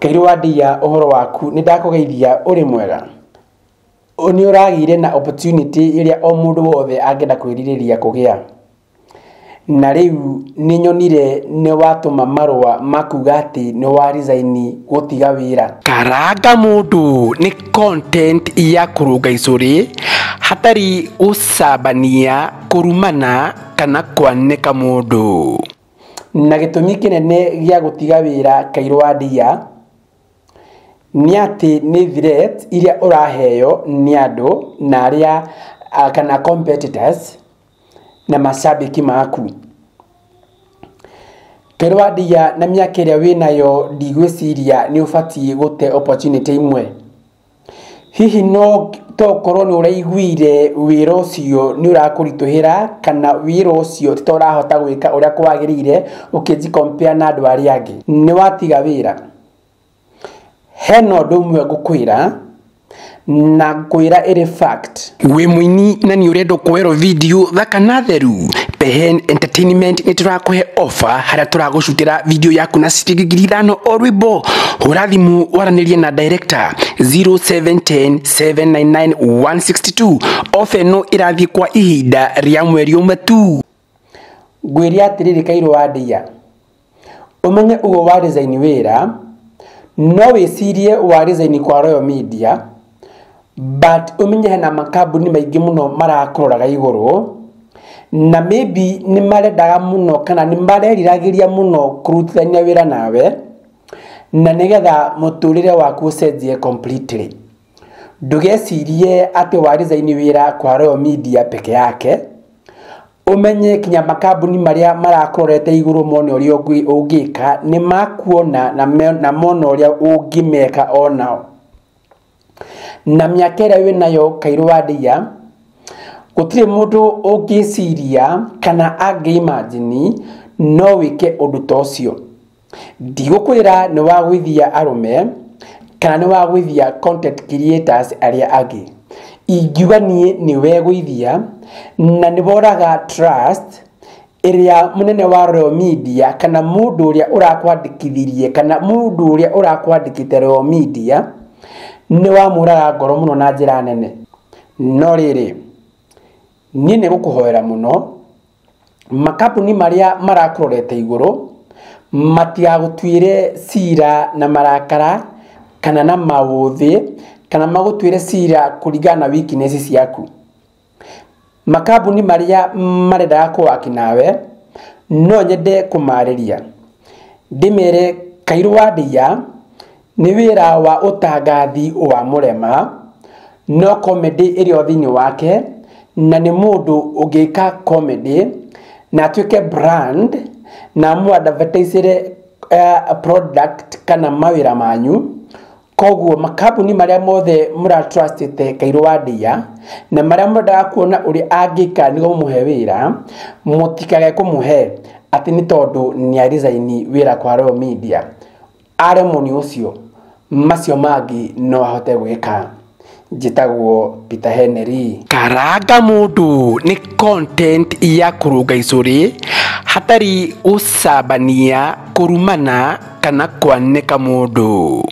Kairũ wa Ndia ũhoro waku nĩ ndakũgeithia ũrĩ mwega Ũ- nĩ ũragĩire na opportunity ĩrĩa o mũndũ wothe angĩenda kwĩrirĩria kũgĩa na rĩu nĩ nyonire nĩ watũma marũa makuga atĩ nĩ wa resign gũtiga wĩra karanga mũndũ nĩ content ya kũrũnga icũrĩ hatarĩ gũcambania kũrumana kana kwanĩka mũndũ na gĩtũmi kĩnene gĩa gũtiga wĩra kairũ wa ndia nĩ atĩ nĩ threat iria ũraheyo nĩ andũ na arĩa kana competitors na macambĩki maku. Kairũ wa ndia na mĩaka ĩrĩa wĩnayo ndigwĩciria nĩ ũbatiĩ gũte opportunity imwe. Hihi no to ũkorwo nĩ ũraiguire wĩra ũcio nĩ ũrakũritũhĩra kana wĩra ũcio ti ta ũrahota gwĩka ũrĩa kwagĩrĩire ũkĩnji compare na andũ arĩa angĩ. Nĩ watiga wĩra. Hena ũndũ ũmwe ngũkwĩra na ngũkwĩra ĩrĩ fact. Wĩ mũini na nĩ ũrenda kuoerwo video thaka na theru Pehen Entertainment nĩ tũrakũhe offer harĩa tũragũcutĩra video yaku na ciringi ngiri ithano o rwĩmbo hũra thimũ waranĩrie na director 0710799162 offer ĩno ĩrathiĩ kwa ihinda rĩa mweri ũmwe tu ngwĩre atĩrĩrĩ kairũ wa ndĩya ũmenye ũguo wa resign wĩra no wĩcirie wa resign kwa Royal Media but ũmenye hena makambuni maingĩ mũno marakũroraga igũrũ na maybe nĩ marendaga mũno kana nĩ mareriragĩria mũno kũrutithania wĩra nawe na nĩgetha mũtũrĩre waku ũcenjie completely Ndũgecirie atĩ warizaini wĩra kwa Royal Media peke yake, ũmenye kinya makambuni marĩa marakũrorete igũrũ mone ũrĩa ũngĩ- ũngĩka nĩ makuona na me- na mona ũrĩa ũngĩmeka o nao na mĩaka ĩrĩa wĩ nayo kairũ wa ndĩia gũtirĩ mũndũ ũngĩciria kana angĩ imagine no wĩke ũndũ ta ũcio Ndigũkwĩra nĩ wagwĩthia arũme kana nĩ wagwĩthia content creators arĩa angĩ. Ingiuga niĩ nĩ wegwĩthia na nĩ woraga trust ĩrĩa mũnene wa Royal Media kana mũndũ ũrĩa ũrakwandĩkithirie kana mũndũ ũrĩa ũrakwandĩkĩte Royal Media nĩ wamũraga ngoro mũno na njĩra nene. No rĩrĩ, niĩ nĩ gũkũhoera mũno makambuni marĩa marakũrorete igũrũ matigagũtuĩre cira na marakara kana na maũthĩ kana magũtuĩre cira kũringana na weakness ciaku. Makambuni marĩa marendaga kũ work nawe no nyende kũmarĩria ndĩmere kairũ wa ndĩiya Nĩ wĩra wa ũtangathi wa mũrema, no comedy ĩrĩ o thĩinĩ wake, na nĩ mũndũ ũngĩka comedy na atuĩke brand na mũ advertise ĩre product kana mawĩra manyu. Koguo makambuni marĩa mothe mũra trust ĩte Kairũ wa Ndeiya na marĩa mũrendaga kuona ũrĩa angĩka nĩguo mamũhe wĩra, mũtikage kũmũhe atĩ nĩ tondũ nĩ a resign wĩra kwa Royal Media. Aremwo nĩ ũcio, macio mangĩ no ahote gwĩka. Njĩtagwo Peter Henry. Karanga mũndũ nĩ content ya kũrũnga icũrĩ hatarĩ gũcambania, kũrumana kana kwanĩka mũndũ.